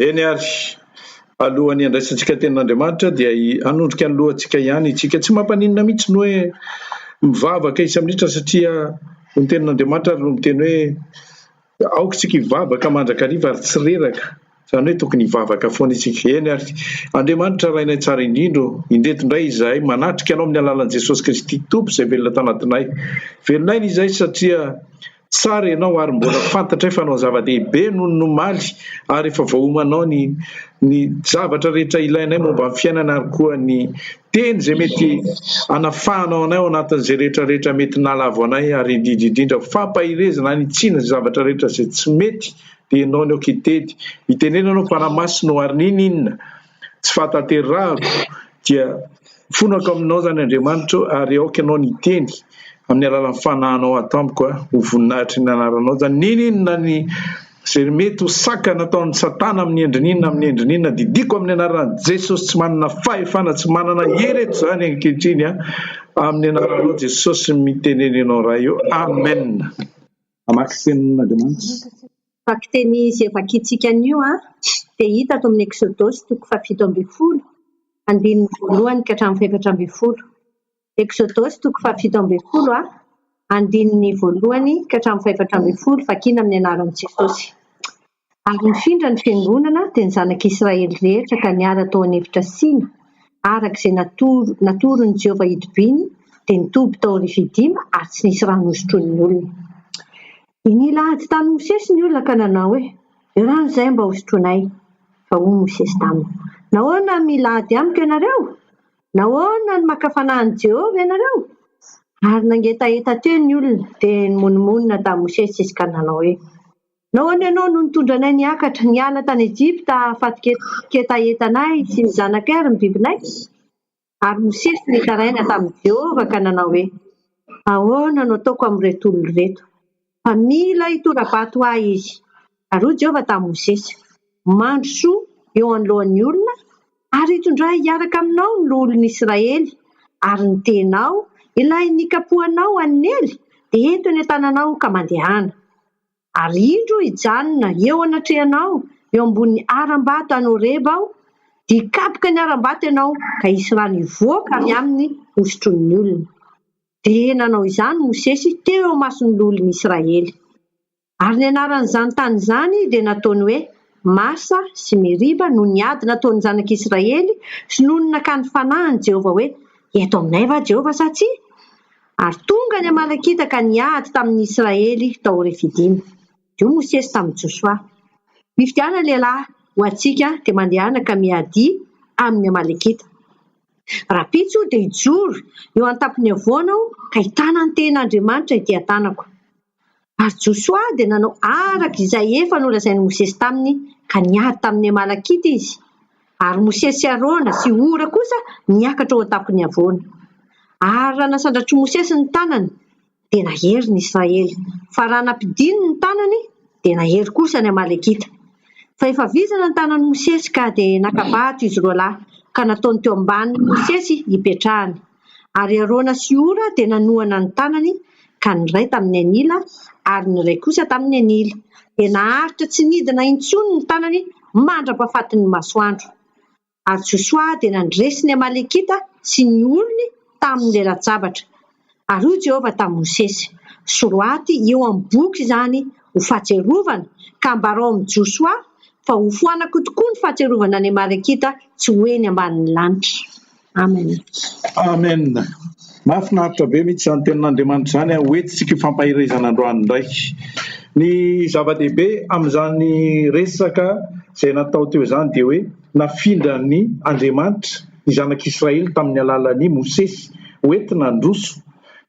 Eny àry, alohan'ny handraisantsika ny Tenin'Andriamanitra dia hanondrika ny lohantsika ihany isika. Tsy mampaninona mihitsy ny hoe mivavaka isa-minitra satria ny Tenin'Andriamanitra ary no miteny hoe aoka isika hivavaka mandrakariva ary tsy reraka, izany hoe tokony hivavaka foana isika. Eny àry, Andriamanitra Rainay tsara indrindra ô, indreto indray izahay manatrika Anao amin'ny alalan'i Jesosy Kristy Tompo izay velona tanatinay. Velonay ny izay satria. Tsara ianao ary mbola fantatray fa hanao zava-dehibe noho ny omaly ary efa voaomanao ny ny zavatra rehetra ilainay momba ny fiainana ary koa ny Teny izay mety hanafahanao anay ao anatin'izay rehetra rehetra mety nalavo anay ary indrindra indrindra fampaherezana hanitsiana izay zavatra rehetra izay tsy mety dia ianao ny aoka hitety hitenena ianao Fanahy Masina ho arin'inona inona tsy fahatanterahako dia mifonako aminao izany Andriamanitra o ary aoka ianao ny hiteny amin'ny alalan'ny fanahinao ato amiko a, ho voninahitry ny anaranao izany, n'inon'inona ny izay mety ho saka nataon'i satana amin'ny endriny inona amin'ny endriny inona, didiako amin'ny anaran'i Jesosy tsy manana fahefana tsy manana hery eto izany ankehitriny a, amin'ny anaranao Jesosy no mitenena ianao Ray o, Amen. Hamaky Tenin'Andriamanitra. Vakiteny izay vakintsika anio dia hita ato amin'ny Eksodosy toko fahafito ambin'ny folo, andininy voalohany ka hatramin'ny fahefatra ambin'ny folo. Eksodosy toko fahafito ambin'ny folo, andininy voalohany ka hatramin'ny fahefatra ambin'ny folo, vakina amin'ny anaran'i Jesosy. Ary nifindra ny fiangonana dia ny Zanak'i Israely rehetra ka niala tao an'efitra Sina, araka izay natoro, natoron'i Jehovah hitobiany, dia nitoby tao Rifidima, ary tsy nisy rano hosotroin'ny olona. Dia nila ady tamin'i Mosesy ny olona ka nanao hoe, Io rano izay mba hosotroinay. Fa hoy Mosesy taminy, Nahoana no mila ady amiko ianareo? Nahoana no maka fanahy an'i Jehovah ianareo? Ary nangetaheta teo ny olona, dia nimonomonona tamin'i Mosesy izy ka nanao hoe, Nahoana ianao no nitondra anay niakatra, niala tany Ejipta hahafatin-ketahetanay sy ny zanakay ary ny bibinay? Ary Mosesy nitaraina tamin'i Jehovah ka nanao hoe, Ahoana no ataoko amin'ireto olona ireto? Fa mila hitora-bato ahy izy. Ary hoy Jehovah tamin'i Mosesy, Mandrosoa eo anoloan'ny olona, ary hitondrà hiaraka aminao ny loholon'i Israely, ary ny tenao, ilay nikapohanao hanely, dia ento eny an-tananao ka mandehana. Ary indro hijanona eo anatrehanao, eo ambonin'ny harambato any Horeba aho, dia hikapoka ny harambato ianao, ka hisy rano hivoaka avy aminy hosotroin'ny olona. Dia nanao izany Mosesy teo eo imason'ny loholon'i Israely. Ary ny anaran'izany tany izany dia nataony hoe Masa sy Meriba noho ny ady nataon'ny zanak'Israely sy noho ny nakany fanahin'i Jehovah hoe, Eto aminay va Jehovah sa tsia? Ary tonga ny Amalekita ka niady tamin' ny Israely tao Refidima. Io Mosesy tamin' i Jôsoa. Mifidiana lehilahy ho antsika dia mandehana ka miadia amin' ny Amalekita. Rahampitso dia hijoro eo an-tampony havoana aho ka hitana ny tehin' Andriamanitra ety an-tanako. Ary Josoa dia nanao araka izay efa nolazain'i Mosesy taminy, ka niady tamin'ny Amalakita izy. Ary Mosesy sy Arona sy Hora kosa niakatra ho an-tampon'ny havoana. Ary raha nasandratr'i Mosesy ny tanany, dia nahery ny Israely, fa raha nampidininy ny tanany, dia nahery kosa ny Amalekita. Fa efa vizana ny tanan'i Mosesy, ka dia naka-bato izy roa lahy, ka nataony teo ambanin'i Mosesy hipetrahany. ary Arona sy Hora dia nanohana ny tanany ka ny iray tamin'ny anila ary ny iray kosa tamin'ny anila, dia naharitra tsy nidina intsony ny tanany mandra-pahafatin'ny masoandro. Ary Josoa dia nandresy ny Amalekita sy ny olony tamin'ny lelan-tsabatra. Ary hoy Jehovah tamin'i Mosesy, Soro aty eo amin'ny boky izany ho fahatsiarovana, ka ambarao amin'i Josoa fa hofoanako tokoa ny fahatsiarovana ny Amalekita tsy ho eny ambanin'ny lanitra. Amen. Amen. Mahafinaritra be mihitsy izany tenin'Andriamanitra izany. Ho entintsika io fampaherezana androany indray. Ny zava-dehibe amin'izany resaka izay natao teo izany dia hoe nafindran'ny Andriamanitra ny zanak'Israely tamin'ny alalan'i Mosesy ho entina handroso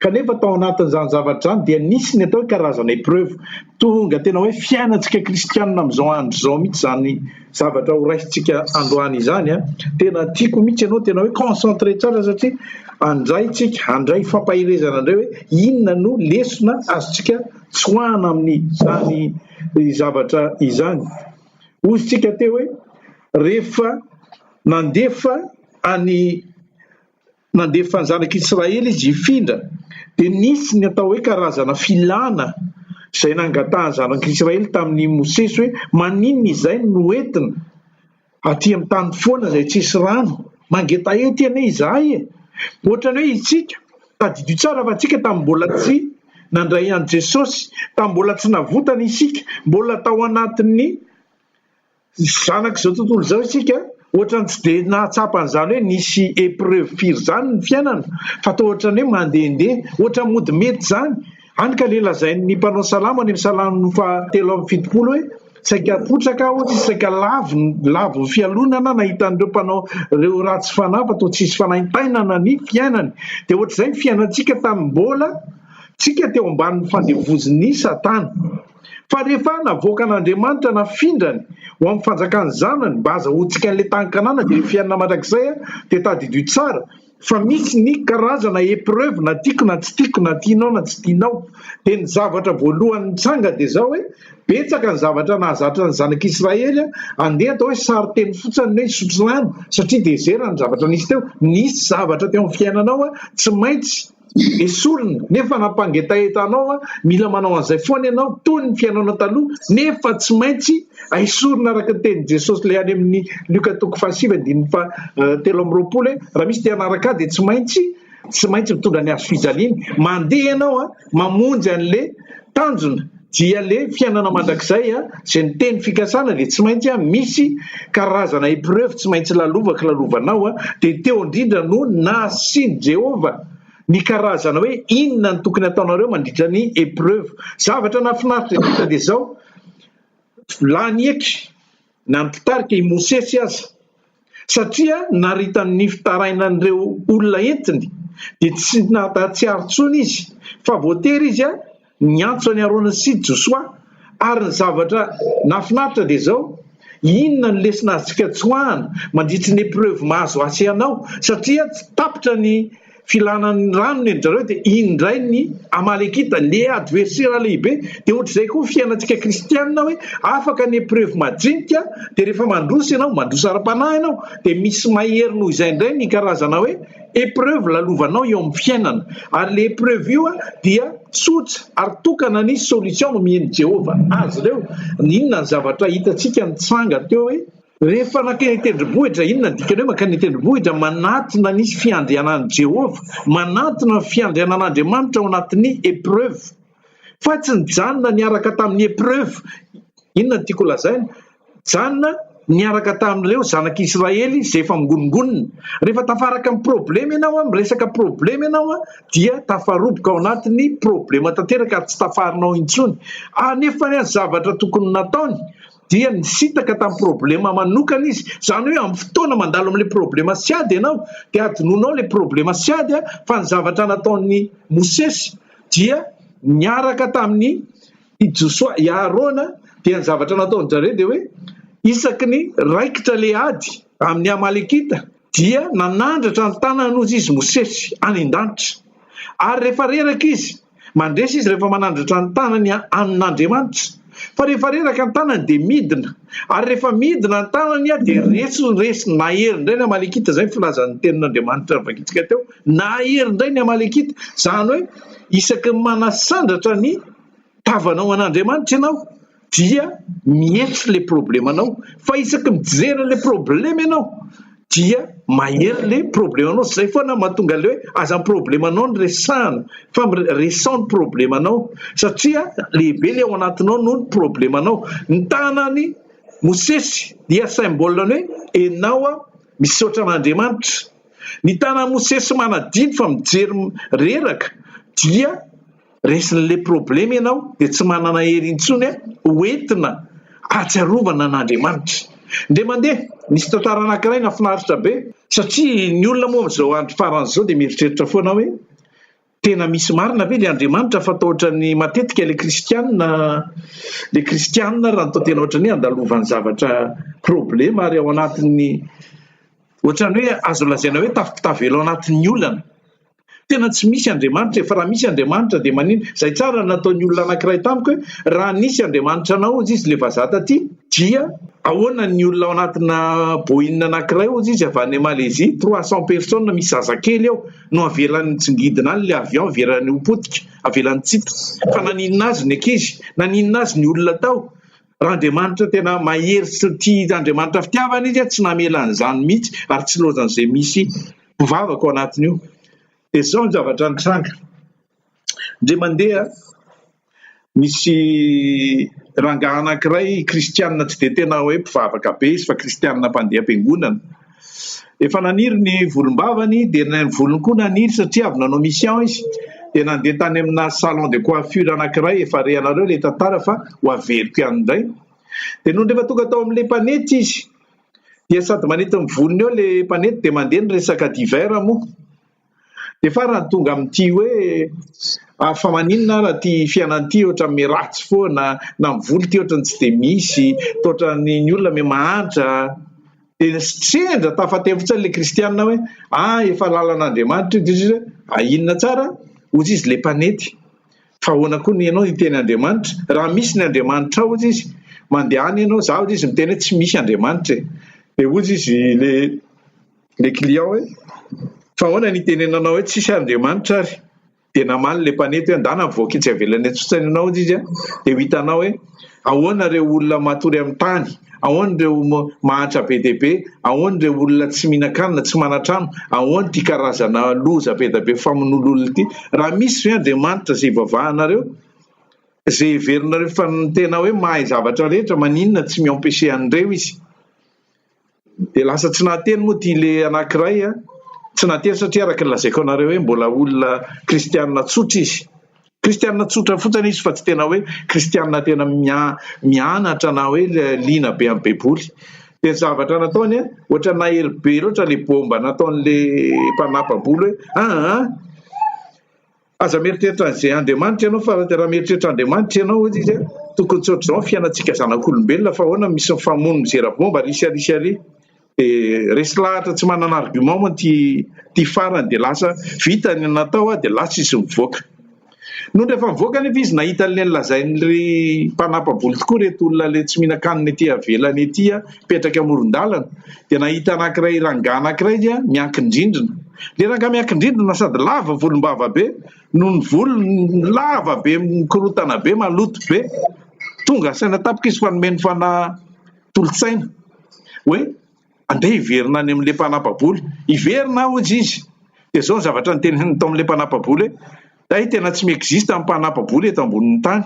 Kanefa tao anatin'izany zavatra izany dia nisy ny atao hoe karazana épreuve. Tonga tena hoe fiainantsika kristianina amin'izao andro izao mihitsy izany zavatra horaisintsika androany izany. Ah. Tena tiako mihitsy ianao tena hoe concentré tsara satria andray tsika, handray fampaherezana indray hoe inona no lesona azontsika tsoahana amin'izany zavatra izany. Ozintsika teo hoe rehefa nandefa any Nandefa ny zanak'i Israely izy hifindra. Dia nisy ny atao hoe karazana filana izay nangatahan'ny zanak'i Israely tamin'i Mosesy hoe, Maninona izay no noentina aty amin'ny tany foana izay tsisy rano? Mangetaheta ianay izahay e! Ohatran'ny hoe isika, tadidio tsara fa isika tamin'ny mbola tsy nandray an'i Jesosy, tamin'ny mbola tsy navotana isika, mbola tao anatin'ny Zanak'izao tontolo izao isika, ohatrany tsy dia nahatsapa an'izany hoe nisy épreuve firy izany ny fiainana, fa toa ohatrany hoe mandehandeha, ohatrany mody mety izany. Hany ka ilay lazain'ny mpanao salamo any amin'ny salamo fahatelo amby fitopolo hoe, Saika potraka aho sy saika lavon'ny fialonana nahitan'ireo mpanao ireo ratsy fanahy fa toa tsy hisy fanaintainana ny fiainany. Dia ohatr'izay ny fiainantsika tamin'ny mbola tsika teo ambanin'ny fandevozin'i Satana. Fa rehefa navoakan'Andriamanitra nafindrany ho amin'ny fanjakan'ny Zanany mba hazahoantsika an'ilay tany Kanana dia ny fiainana mandrakizay dia tadidio tsara fa misy ny karazana épreuve na tiako na tsy tiako na tianao na tsy tianao dia ny zavatra voalohany mitsanga dia zao hoe betsaka ny zavatra nahazatra ny zanak'Israely andeha atao hoe sary teny fotsiny hoe sotrano satria dezera ny zavatra nisy teo nisy zavatra teo amin'ny fiainanao tsy maintsy Esorina nefa nampangetaheta anao aho, mila manao an'izay foana ianao, toy ny fihainoana taloha, nefa tsy maintsy esorina araka ny tenin'i Jesosy ilay any amin'ny Lioka toko fahasivy andininy fahatelo amby roapolo hoe raha misy te hanaraka ahy dia tsy maintsy tsy maintsy mitondra ny hazofijaliany, mandeha ianao an, mamonjy an'ilay tanjona. Dia le fiainana mandrakizay a, zay miteny fikasana dia tsy maintsy a misy karazana epreuve tsy maintsy lalovako lalovanao a, dia teo indrindra no nasian'i Jehovah ny karazana hoe inona no tokony ataonareo mandritra ny epreuve. Zavatra nahafinaritra indrindra dia zao, lany eky. na ny mpitarika i Mosesy aza, satria naritany ny fitarainan'ireo olona entiny, dia tsy nahatsiaro intsony izy fa voatery izy niantso an'i Arona sy Josoa. Ary ny zavatra nahafinaritra dia izao, inona no lesona azontsika tsoahana mandritry ny epreuve mahazo ahy sy anao, satria tsy tapitra ny. filana ny rano ny an-dry zareo dia iny indray ny Amalekita, le adversera lehibe, dia ohatr'izay koa ny fiainantsika kristianina hoe afaka ny epreuve majinika dia rehefa mandroso ianao, mandroso ara-panahy ianao dia misy mahery noho izay indray ny karazana hoe epreuve lalovanao eo amin'ny fiainana, ary le epreuve io dia tsotra ary tokana ny solution nomen'i Jehovah azy ireo, inona ny zavatra hitantsika nitsanga teo hoe. Rehefa nankeny an-tendrombohitra, inona no dikan'ny hoe mankany an-tendrombohitra? Manatona ny fiandrianan'i Jehovah, manatona ny fiandrianan'Andriamanitra ao anatin'ny épreuve. Fa tsy nijanona niaraka tamin'ny épreuve. Inona no tiako holazaina? Nijanona niaraka tamin'ireo zanak'Israely izay efa mingonongonona. Rehefa tafaraka amin'ny problème ianao, miresaka problème ianao, dia tafaroboka ao anatin'ny problème tanteraka ary tsy tafarinao intsony. Anefa ny zavatra tokony nataony, dia nisintaka tamin'ny problema manokana izy. Izany hoe amin'ny fotoana mandalo amin'ilay problema sy ady ianao dia hadinonao ilay problema sy ady fa ny zavatra nataon'i Mosesy dia niaraka tamin'ny i Josoa, i Aharona dia ny zavatra nataon'i Jare dia hoe isaky ny raikitra ilay ady amin'ny Amalekita dia nanandratra ny tanan'ozy izy Mosesy any an-danitra ary rehefa reraka izy Mandresy izy rehefa manandratra ny tanany amin' Andriamanitra, fa rehefa reraka ny tanany dia midina, ary rehefa midina ny tanany dia resy ny resiny. Nahery indray ny Amalekita, izay ny filazan' ny tenin' Andriamanitra novakintsika teo, nahery indray ny Amalekita, izany hoe isaky ny manasandratra ny tavanao an' Andriamanitra ianao, dia mietso ilay problemanao fa isaky ny mijery an'ilay problema ianao dia mahery ilay problemanao, izay foana no mahatonga ilay hoe aza ny problemanao no resahina fa resaho ny problemanao satria lehibe ilay ao anatinao noho ny problemanao, ny tanan'i Mosesy dia symbole ny hoe enao aho misaotra an'Andriamanitra, ny tanan'i Mosesy manadino fa mijery reraka dia. resin'ilay problema ianao dia tsy manana hery intsony ho entina ahatsiarovana an'Andriamanitra. Ndeha mandeha, nisy tantara anankiray nahafinaritra be satria ny olona moa amin'izao andro farany izao dia mieritreritra foana hoe tena misy marina ve ilay Andriamanitra fa toa ohatran'ny matetika ilay kristiana ilay kristiana raha ny toa tena ohatran'ny hoe andalovan'ny zavatra problema ary ao anatin'ny ohatran'ny hoe azo lazaina hoe tafotavelo anatin'ny olana. Tena tsy misy Andriamanitra e, fa raha misy Andriamanitra dia maninona? Izay tsara nataon'ny olona anankiray tamiko hoe raha nisy Andriamanitra anao hozy izy ilay vazaha taty dia ahoana ny olona ao anatina Boeing anankiray hozy izy avy any Malaisie trois cents personnes misy zazakely ao no avelany mitsingidina any ilay avion avelany ho potika, avelany tsitra. Fa naninona azy ny ankizy? Naninona azy ny olona tao? Raha Andriamanitra tena mahery sy tia Andriamanitra fitiavana izy tsy namela an'izany mihitsy ary tsy loazan'izay misy mpivavaka ao anatiny io. Dia izao ny zavatra nitranga. Ndre mandeha misy rangahy anankiray kristianina tsy dia tena hoe mpivavaka be izy fa kristianina mpandeha am-piangonana. Efa naniry ny volombavany dia ilay volony koa naniry satria avy nanao mission izy dia nandeha tany amina salon de coiffure anankiray efa rehanareo ilay tantara fa ho averiko ihany indray dia nony rehefa tonga tao amin'ilay mpanety izy dia sady manety ny volony eo ilay mpanety dia mandeha ny resaka divers moa Dia farany tonga amin'ity hoe, ary fa maninona ary ity fiainana ity ohatran'ny miratsy foana, na ny vola ity ohatran'ny tsy dia misy, toa ohatran'ny ny olona me mahantra. Dia sendra tafatefotsiny ilay kristianina hoe, ah efa lalan'Andriamanitra io, dia hoy Jesosy hoe, ah inona tsara? hozy izy ilay mpanety, fa ahoana koa ny ianao hiteny Andriamanitra? raha misy ny Andriamanitra ao, hozy izy, mandehana ianao, za hozy izy miteny hoe tsy misy Andriamanitra e, dia hozy izy le. le client hoe fa ahoana ny itenenanao hoe tsisy Andriamanitra ary? dia namaly le mpanety hoe ndana mivoaka etsy avelany etsy fotsiny ianao hozy izy a! dia ho hitanao hoe ahoana ireo olona matory amin'ny tany, ahoana ireo mahantra be dia be, ahoana ireo olona tsy mihinan-kanina, tsy manan-trano, ahoana ity karazana loza be dia be famonoana olona ity, raha misy ve Andriamanitra izay ivavahanareo, izay heverinareo fa tena hoe mahay zavatra rehetra, maninona tsy mi-empêcher an'ireo izy? Dia lasa tsy nahateny moa ity le anankiray a, tsy nahateny satria araka ny lazaiko anareo hoe mbola olona kristianina tsotra izy, kristianina tsotra fotsiny izy fa tsy tena hoe kristianina tena mia- mianatra na hoe liana be amin'ny baiboly, dia ny zavatra nataony a, ohatra nahery be loatra le baomba nataon'le mpanampabolo hoe aa. Aza mieritreritra an'izay Andriamanitra ianao fa raha mieritreritra Andriamanitra ianao hoy izy tokony tsy ohatr'izao ny fiainantsika zanak'olombelona fa ahoana misy ny famono mizera bomba ary sia ary sia ary dia resy lahatra tsy manana argument moa ity ity farany dia lasa vita ny natao dia lasa izy mivoaka. Nony rehefa mivoaka nefa izy nahita an'ilay lazain'ilay mpanampabolo tokoa ireto olona ilay tsy mihinan-kanina ety avelany ety apetraka amoron-dalana dia nahita anankiray rangahy anankiray dia miankin-drindrina. Ilay rangahy miankin-drindrina sady lava volom-bava be no ny volony lava be mikorontana be maloto be. Tonga saina tampoka izy fa nomeny fanahy tolo-tsaina hoe andeha hiverina any amin'ilay mpanapa-bola. Hiverina aho hoy izy. Dia izao ny zavatra noteneniny tao amin'ilay mpanapa-bola hoe hay tena tsy mi-existe ny mpanapa-bola eto ambonin'ny tany.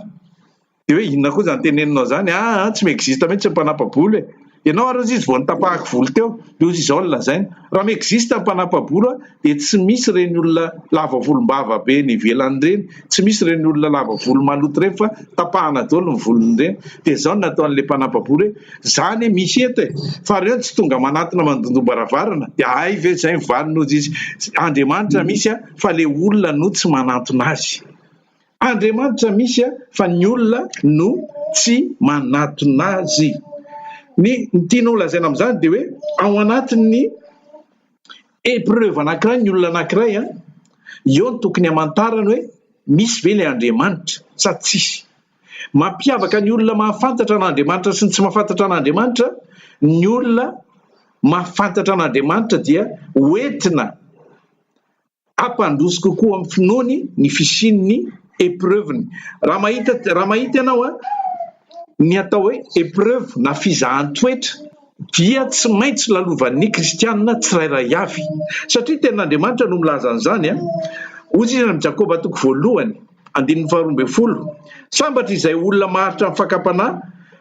dia hoe inona koa izany teneninao izany ah ah tsy mi-existe mihitsy ny mpanapa-bolo e! ianao ary hozy izy vao nitapahako volo teo dia hozy izao no lazainy raha mi-existe ny mpanapa-bolo ah dia tsy misy ireny olona lava volom-bava be eny ivelany ireny tsy misy ireny olona lava volo maloto ireny fa tapahana daholo ny volony ireny dia izao no nataon'ilay mpanapa-bolo hoe izany e misy eto e fa ireo tsy tonga manatona mandondom-baravarana dia hay ve izay ny valiny hozy izy andriamanitra misy ah fa ilay olona no tsy manantona azy Andriamanitra misy fa ny olona no tsy manatona azy. Ny tiany holazaina amin'izany dia hoe ao anatin'ny épreuve anankiray ny olona anankiray eo no tokony hamantarany hoe misy ve ilay Andriamanitra sa tsis. Mampiavaka ny olona mahafantatra an'Andriamanitra sy ny tsy mahafantatra an'Andriamanitra ny olona mahafantatra an'Andriamanitra dia ho entina Hampandroso kokoa amin'ny finoany ny fisian'ny epreuve-ny. Raha mahita raha mahita ianao a, ny atao hoe epreuve na fizahan-toetra dia tsy maintsy lalovan'ny kristianina tsirairay avy satria tenin'Andriamanitra no milaza an'izany a. Hoy izy amin'i Jakoba toko voalohany. Andininy faharoa ambin'ny folo, Sambatra izay olona maharitra ny fakam-panahy,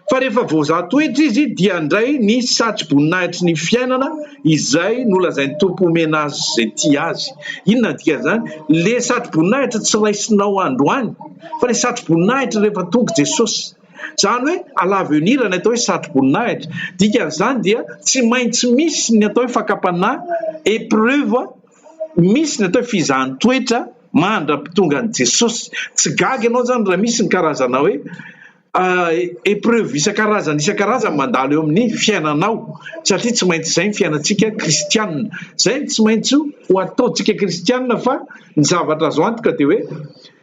fa rehefa voazaha toetra izy dia handray ny satroboninahitry ny fiainana izay nolazain'ny Tompo homena azy izay tia Azy. Inona no dikan'izany? Ilay satroboninahitra tsy raisinao androany, fa ilay satroboninahitra rehefa tonga Jesosy. Izany hoe à l'avenir ny atao hoe satroboninahitra. Dikan'izany dia tsy maintsy misy ny atao hoe fakam-panahy, épreuve, misy ny atao hoe fizahan-toetra mandra-pitongan'i Jesosy. Tsy gaga ianao izany raha misy ny karazana hoe épreuve isan-karazany isan-karazany mandalo eo amin'ny fiainanao, satria tsy maintsy izay ny fiainantsika kristiana. Izay no tsy maintsy ho ataontsika kristiana fa ny zavatra azo antoka dia hoe,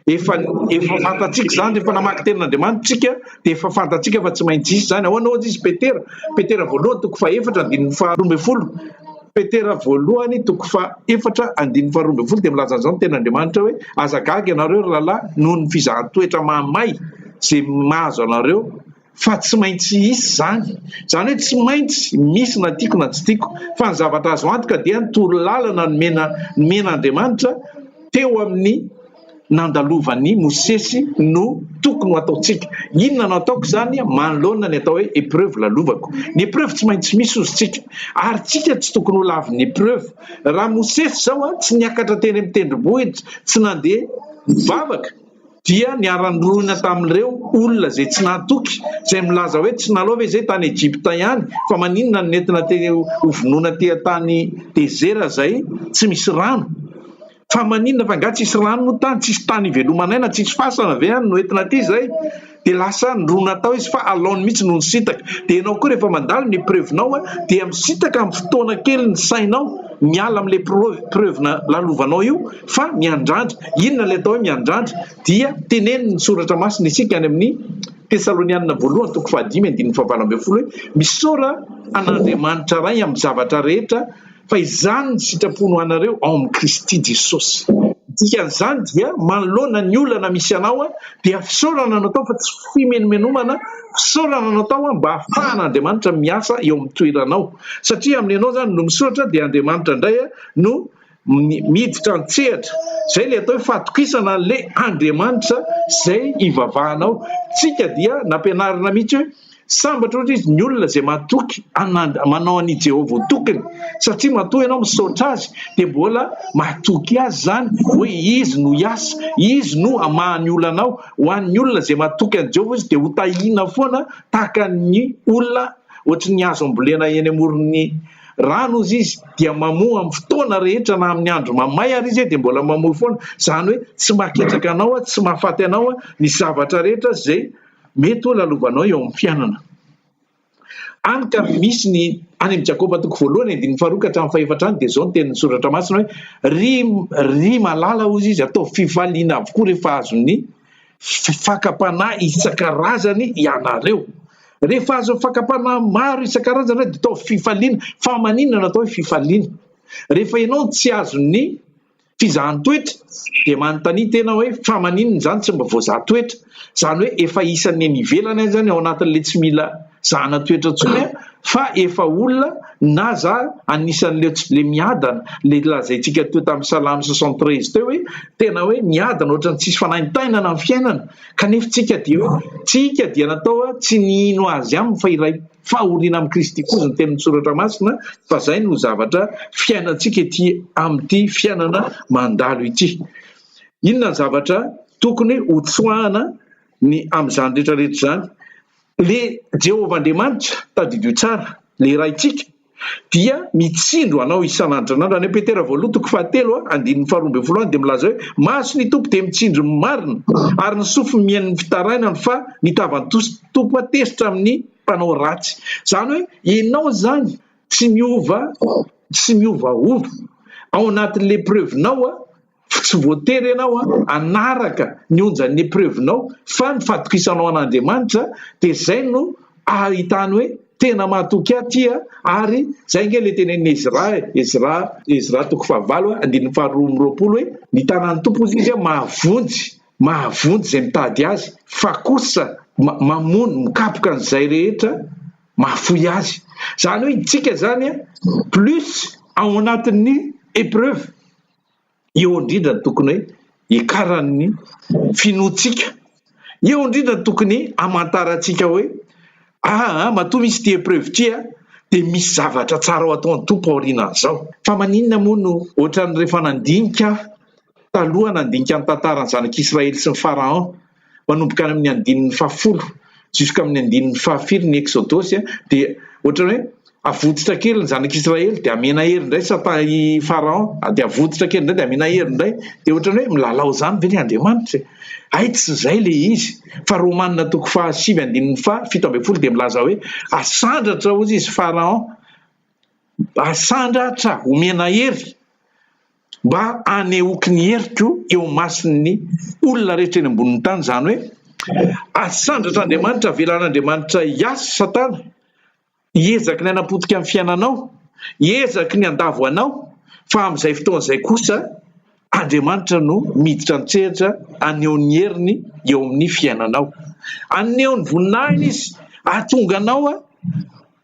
Efa efa fantatsika izany rehefa namaky tenin'Andriamanitra isika dia efa fantatsika fa tsy maintsy hisy izany. Ahoana ohatra izy Petera, Petera voalohany toko fahefatra andininy faharoa ambin'ny folo, Petera voalohany toko fahefatra andininy faharoa ambin'ny folo dia milaza an'izao ny tenin'Andriamanitra hoe aza gaga ianareo ry rahalahy noho ny fizahan-toetra mahamay izay mahazo anareo fa tsy maintsy hisy izany. Izany hoe tsy maintsy misy na tiako na tsy tiako, fa ny zavatra azo antoka dia ny toro lalana nomena nomen'Andriamanitra teo amin'ny nandalovan'i Mosesy no tokony ho ataontsika. Inona no ataoko izany manoloana ny atao hoe épreuve lalovako? Ny épreuve tsy maintsy misy ozy tsika, ary tsika tsy tokony ho lavin'ny épreuve. Raha Mosesy izao tsy niakatra teny amin'ny tendrombohitra, tsy nandeha nivavaka, dia niara-nirona tamin'ireo olona izay tsy nahatoky, izay milaza hoe, Tsy nalao ve izay tany Egypta ihany? Fa maninona no nentina teny hovonoina teha tany dezera izay tsy misy rano? Fa maninona? Fa nga tsisy rano moa tany? Tsisy tany hiveloman'aina? Tsisy fasana ve any no entina aty izay? dia lasa nirona tao izy fa alaony mihitsy no nisintaka, dia ianao koa rehefa mandalo ny preuve nao dia misintaka amin'ny fotoana kely ny sainao miala amin'ilay preuve preuve nalalovanao io fa miandrandra, inona ilay atao hoe miandrandra dia tenenin'ny soratra masina isika any amin'ny tesalonianina voalohany toko fahadimy andininy fahavalo ambin'ny folo hoe misaora an'Andriamanitra ray amin'ny zavatra rehetra fa izany ny sitrapony ho anareo ao amin'i Kristy Jesosy. Ny dikan'izany dia, manoloana ny olana misy anao, dia fisaorana no atao fa tsy fimenomenomana, fisaorana no atao mba hahafahan'Andriamanitra miasa eo amin'ny toeranao, satria amin'ny anao izany no misaotra dia Andriamanitra indray no miditra an-tsehatra. Izay ilay atao hoe fahatokisana an'ilay Andriamanitra izay ivavahanao. Isika dia nampianarina mihitsy hoe. Sambatra ohatra izy ny olona izay matoky hanad- manao an'i Jehovah ho tokiny, satria matoa ianao misaotra azy, dia mbola matoky azy izany hoe izy no hiasa, izy no hamaha ny olanao. Ho an'ny olona izay matoky an'i Jehovah izy dia hotahiana foana tahaka ny olona ohatry ny azo ambolena eny amoron'ny rano hozy izy, dia mamoa amin'ny fotoana rehetra na amin'ny andro mamay ary izy dia mbola mamoa foana, izany hoe tsy maketraka anao, tsy mahafaty anao ny zavatra rehetra izay Mety ho lalovanao eo amin'ny fiainana. Any ka misy ny any amin'ny Jakoba toko voalohany andininy faharoa ka hatramin'ny fahefatra any dia izao ny tenin'ny soratra masina hoe ry ry malala hozy izy ataovy fifaliana avokoa rehefa azon'ny fakam-panahy isan-karazany ianareo. Rehefa azon'ny fakam-panahy maro isan-karazany ianareo dia ataovy fifaliana. Fa maninona no atao hoe fifaliana? Rehefa ianao tsy azon'ny Fizahan toetra dia manontania tena hoe fa maninona izany tsy mba voazaha toetra? Izany hoe efa isan'ny eny ivelany aza ny ao anatin'ilay tsy mila zahana toetra intsony an! fa efa olona na za anisan'ilay tsy le miadana ilay lazaintsika teo tamin'ny salamo soixante treize teo hoe tena hoe miadana ohatran'ny tsisy fanaintainana ny fiainana kanefa tsika dia hoe tsika dia natao tsy ny hino azy aminy fa iray Fahoriana amin'i Kristy kozy ny tenin'ny Soratra Masina fa izay no zavatra fiainantsika ety amin'ity fiainana mandalo ity. Inona ny zavatra tokony ho tsoahana ny amin'izany rehetra rehetra izany? Ilay Jehovah Andriamanitra, tadidio tsara, ilay Raintsika, dia mitsindro anao isan'andro. Zanahan'Andr. Any Petera voalohany toko fahatelo a, andininy faharoa ambin'ny folo any dia milaza hoe, Maso ny Tompo dia mitsindro ny marina, ary ny sofiny mihaino ny fitarainany, fa ny tavan'ny Tompo a tezitra amin'ny mpanao ratsy. Izany hoe ianao izany tsy miova, tsy miovaova ao anatin'ny épreuve-nao a, Tsy voatery ianao hanaraka ny onjan'ny epreuve-nao fa ny fatokisanao an'Andriamanitra dia izay no ahitany hoe tena mahatoky ahy ity a ary izay ange ilay tenenin'i Ezra e, Ezra, Ezra toko fahavalo a, andininy faharoa amby roapolo hoe ny tanan'ny Tompo hozy izy a mahavonjy, mahavonjy izay mitady azy fa kosa mamono, mikapoka an'izay rehetra mahafoy azy. Izany hoe isika izany a plus ao anatin'ny epreuve. Eo indrindra ny tokony hikaran'ny finoantsika. Eo indrindra ny tokony hamantarantsika hoe aa matoa misy ity epreuve ity a dia misy zavatra tsara ho ataon'ny Tompo aorianan'izao. Fa maninona moa no ohatran'ny rehefa nandinika aho taloha nandinika ny tantaran'ny zanak'Israely sy ny Pharaon, manomboka any amin'ny andininy fahafolo jusk'amin'ny andininy fahafiry ny Eksodosy dia ohatrany hoe avotsitra kely ny zanak'Israely dia amena hery indray sata i Pharaon dia avotsitra kely indray dia amena hery indray dia ohatrany hoe milalao izany ve ny Andriamanitra hay tsy izay le izy fa Romanina toko fahasivy andininy faha fito ambin'ny folo dia milaza hoe asandratra hozy izy Pharaon asandratra omena hery mba hanehoako ny heriko eo imason'ny olona rehetra eny ambonin'ny tany, izany hoe asandratra Andriamanitra, avelan'Andriamanitra hiasa Satana hihezaky ny hanapotika ny fiainanao, hihezaky ny handavo anao, fa amin'izay fotoana izay kosa Andriamanitra no miditra an-tsehatra haneho ny heriny eo amin'ny fiainanao, haneho ny voninahiny Izy, hahatonga anao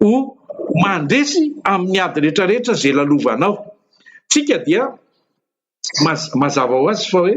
ho mandresy amin'ny ady rehetra rehetra izay lalovanao. Tsika dia mazava ho azy fa hoe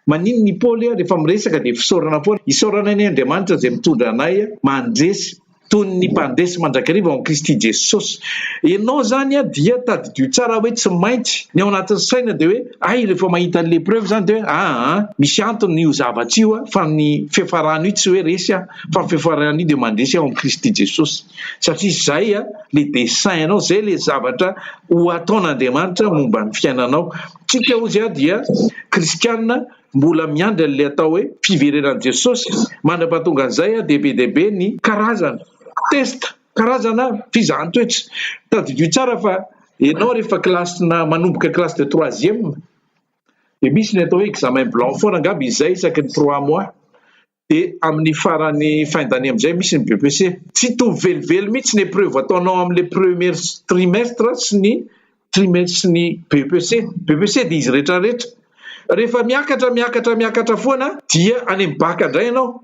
maninona i Paoly ary rehefa miresaka dia fisaorana foana, isaorana anie Andriamanitra izay mitondra anay mandresy toy ny mpandresy mandrakariva ao amin'i Kristy Jesosy. Ianao izany dia tadidio tsara hoe tsy maintsy ny ao anatin'ny saina dia hoe hay rehefa mahita an'ilay preuve izany dia hoe aa misy antony io zavatra io fa ny fiafarana io tsy hoe resy aho fa ny fiafarana io dia mandresy aho amin'i Kristy Jesosy satria izay le dessin anao zay le zavatra ho ataon'Andriamanitra momba ny fiainanao. Tsika ozy aho dia kristianina mbola miandry an'le atao hoe fiverenan'i Jesosy mandra-pahatonga an'izay aho dia be dia be ny karazana test karazana fizahan-toetra. Tadidio tsara fa enao rehefa kilasina manomboka classe de troisième dia misy ny atao hoe examen blanc foana angamba izay isaky ny trois mois Dia amin'ny faran'ny fin d'année amin'izay misy ny BEPC. Tsy hitovy velively mihitsy ny épreuve ataonao amin'ilay premier trimestre sy ny trimestre sy ny BEPC. BEPC dia izy rehetra rehetra. Rehefa miakatra miakatra miakatra foana dia any amin'ny bac indray ianao.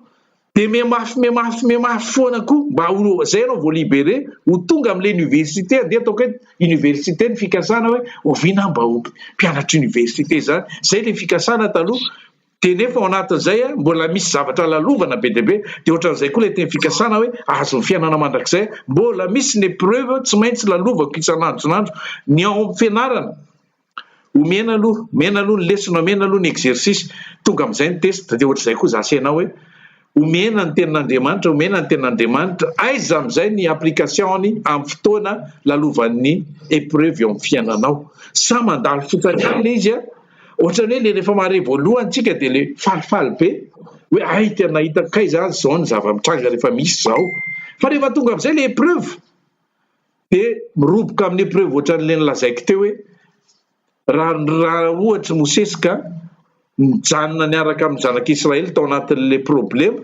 Dia mihamafy mihamafy mihamafy foana koa mba ho izay ianao vao libéré ho tonga amin'ilay université andeha ataoko hoe université ny fikasana hoe oviana aho mba ho mpianatra université izany. Izay ilay fikasana taloha. dia nefa ao anatin'izay mbola misy zavatra lalovana be dia be, dia ohatran'izay koa ilay teny fikasana hoe ahazo ny fiainana mandrakizay, mbola misy ny épreuve tsy maintsy lalovako isan'andro isan'andro, ny ao amin'ny fianarana, omena aloha, omena aloha ny lesona, omena aloha ny exercice, tonga amin'izay ny test, dia ohatr'izay koa izaho sy ianao hoe. Omena ny tenin'Andriamanitra, omena ny tenin'Andriamanitra. Aiza amin'izay ny application-ny amin'ny fotoana lalovan'ny épreuve eo amin'ny fiainanao? Sa mandalo fotsiny ihany ilay izy? Ohatran'ny hoe ilay rehefa mahare voalohany isika dia ilay falifaly be hoe hay tena hitako kay izany izao ny zava-mitranga rehefa misy izao. Fa rehefa tonga amin'izay ilay épreuve dia miroboka amin'ny épreuve ohatran'ilay nolazaiko teo hoe Raha ohatry Mosesy ka nijanona niaraka amin'ny zanak'i Israely tao anatin'ilay problema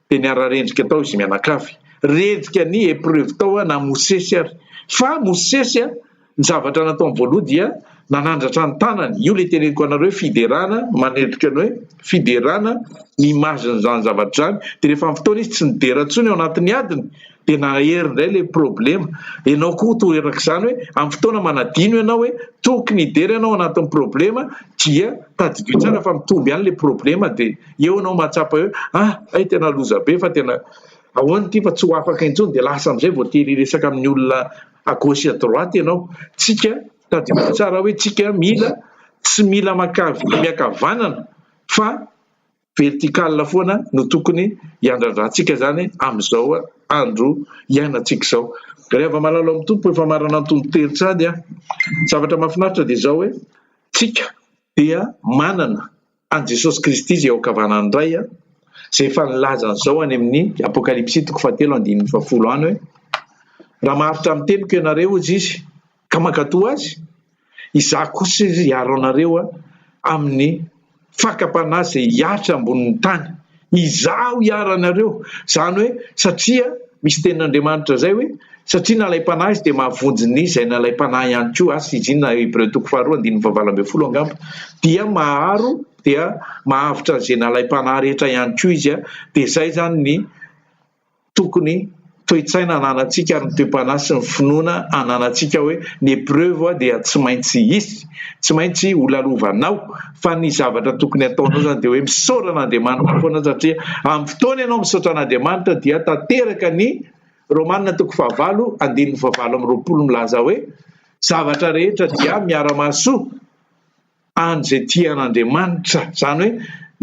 dia niara-rendrika tao izy mianakavy. Rendrika ny epreuve tao na Mosesy ary. Fa Mosesy ny zavatra nataony voaloha dia nanandratra ny tanany. Io ilay teneniko anareo hoe fiderana manendrika ny hoe fiderana ny image-n'izany zavatra izany. Dia rehefa amin'ny fotoana izy tsy nidera intsony ao anatin'ny adiny. Dia nahery indray ilay problema. Ianao koa toa erak'izany hoe amin'ny fotoana manadino ianao hoe tokony hidera ianao anatin'ny problema dia tadidio tsara fa mitombo ihany ilay problema dia eo ianao mahatsapa hoe ah hay tena loza be fa tena ahoana ity fa tsy ho afaka intsony dia lasa amin'izay vao tery hiresaka amin'ny olona à gauche et à droite ianao. Tsika tadidio tsara hoe tsika mila tsy mila makavy miakavanana fa vertical foana no tokony hiandrandrantsika izany amin'izao andro iainantsika izao. Ry hava-malala ao amin'ny Tompo, efa marana antonon-tery tsady aho. Ny zavatra mahafinaritra dia izao hoe, tsika dia manana an'i Jesosy Kristy izay eo ankavanan'ny Ray, izay efa nilaza an'izao any amin'ny Apokalypsy toko fahatelo andininy fahafolo any hoe, Raha maharitra amin'ny teniko ianareo, hoy Izy, ka mankatò azy, izaho kosa izy hiaro anareo amin'ny fakam-panahy izay hihatra ambonin'ny tany. Izaho hiaro anareo, izany hoe satria misy tenin'Andriamanitra izay hoe, satria nalaim-panahy izy dia mahavonjy ny izay nalaim-panahy ihany koa, As. Izina, Hebreo toko faharoa andininy fahavalo ambin'ny folo angamba, dia maharo dia mahavotra an'izay nalaim-panahy rehetra ihany koa izy, dia izay izany ny. tokony toe-tsaina ananantsika ary ny toe-panahy sy ny finoana ananantsika hoe ny épreuve dia tsy maintsy hisy, tsy maintsy ho lalovanao fa ny zavatra tokony ataonao izany dia hoe misaora an'Andriamanitra foana satria amin'ny fotoana ianao misaotra an'Andriamanitra dia tanteraka ny Romana toko fahavalo andininy fahavalo amby roapolo milaza hoe zavatra rehetra dia miara-mahasoa. an'izay tia an'Andriamanitra, izany hoe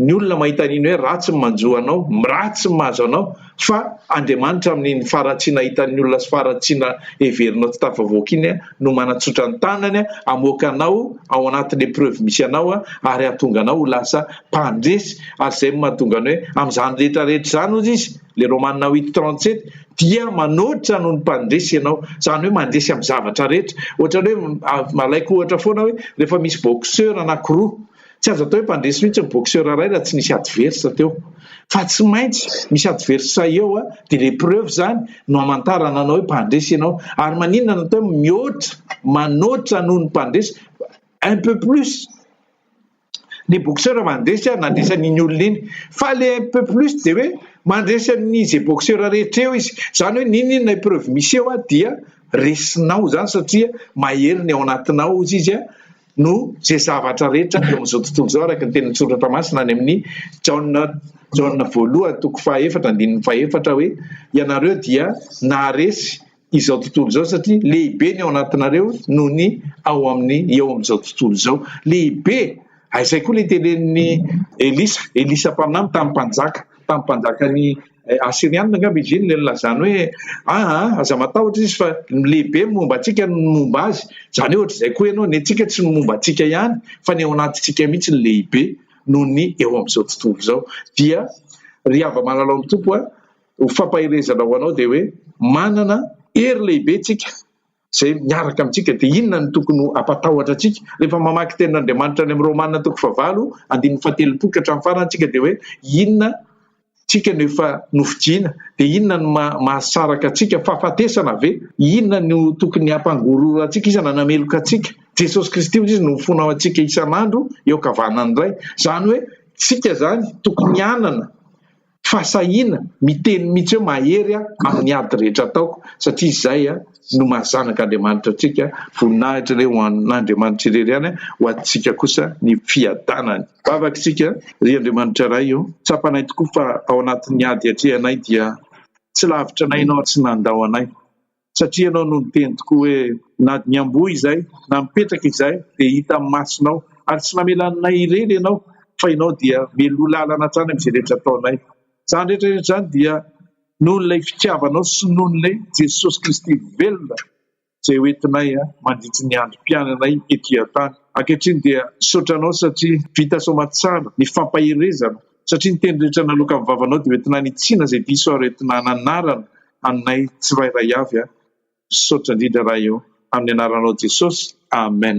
ny olona mahita an'iny hoe ratsy ny manjo anao, ratsy ny mahazo anao, fa Andriamanitra amin'iny faharatsiana hitan'ny olona sy faharatsiana heverinao tsy tafavoaka iny no manatsotra ny tanany hamoaka anao ao anatin'ny épreuve misy anao ary hahatonga anao ho lasa mpandresy, ary izay no mahatonga ny hoe amin'izany rehetra rehetra izany hozy izy, le Romana huit trente sept, dia manoatra noho ny mpandresy ianao, izany hoe mandresy amin'ny zavatra rehetra, ohatran'ny hoe alaiko ohatra foana hoe rehefa misy boxeur anankiroa, tsy azo atao hoe mpandresy mihitsy ny boxeur iray raha tsy nisy adverse teo, fa tsy maintsy misy adverse eo dia ilay preuve izany no hamantarana anao hoe mpandresy ianao, ary maninona no atao hoe mihoatra, manoatra noho ny mpandresy, un peu plus. ny boxeur mandresy ary nandresy an'iny olona iny fa le un peu plus dia hoe mandresy an'ny ze boxeur rehetra eo izy zany hoe n'inon'inona épreuve misy eo dia resinao zany satria mahery ny ao anatinao ozy izy a no ze zavatra rehetra eo amin'izao tontolo izao araka ny teny an-tsoratra masina any amin'ny jaona jaona voalohany toko fahaefatra andininy fahefatra hoe ianareo dia naharesy izao tontolo izao satria lehibe ny ao anatinareo noho ny ao amin'ny eo amin'izao tontolo izao. Lehibe! Ah, izay koa ilay telen'ny Elisa, Elisa mpaminany tamin'ny mpanjaka, tamin'ny mpanjakan'ny eh, Asirianina angamba izy iny ilay nilazany hoe aa, ah, ah, aza matahotra izy fa lehibe ny momba antsika ny momba azy. Izany ohatra izay koa ianao, ny antsika tsy ny momba antsika ihany fa ny ao anatintsika mihitsy ny lehibe noho ny eo amin'izao tontolo izao. Dia ry hava malalao ny tompo a, Ho fampaherezana ho anao dia hoe manana hery lehibe tsika izay miaraka amintsika. Dia inona no tokony ho ampatahotra antsika? Rehefa mamaky tenin'Andriamanitra any amin'ny Romana toko fahavalo andininy fahatelopolo ka hatramin'ny farany tsika dia hoe inona tsika no efa nofidiana? Dia inona no mahasaraka antsika? Fahafatesana ve? Inona no tokony hampangororo antsika? Iza no hanameloka antsika? Jesosy Kristy hoy izy no mifona ho antsika isan'andro eo ankavanan'ny Ray. Izany hoe tsika izany tokony hanana. fa sahina miteny mihitsy hoe mahery aho amin'ny ady rehetra ataoko satria izay no maha zanaka Andriamanitra antsika, voninahitra anie ho an'Andriamanitra irery ihany ho antsika kosa ny fiadanany. Vavaka isika, Ry Andriamanitra Ray ô, tsapanay tokoa fa ao anatin'ny ady iatrehanay dia tsy lavitra anay Ianao ary tsy nandao anay. Satria ianao no niteny tokoa hoe, Na dia niamboho izay, na mipetraka izay, dia hita amin'ny masonao. Ary tsy namela anay irery ianao, fa ianao dia meloha lalana hatrany amin'izay rehetra ataonay. Izany rehetra rehetra izany dia noho ilay fitiavanao sy noho ilay Jesosy Kristy velona izay ho entinay mandritry ny androm-piainanay ety an-tany. Ankehitriny dia misaotra anao satria vita soamantsara ny fampaherezana. Satria ny teny rehetra naloaka amin'ny vavanao dia hoentina hanitsiana izay diso ary hoentina hananarana anay tsirairay avy aho. Misaotra indrindra Raha eo amin'ny anaranao Jesosy. Amen.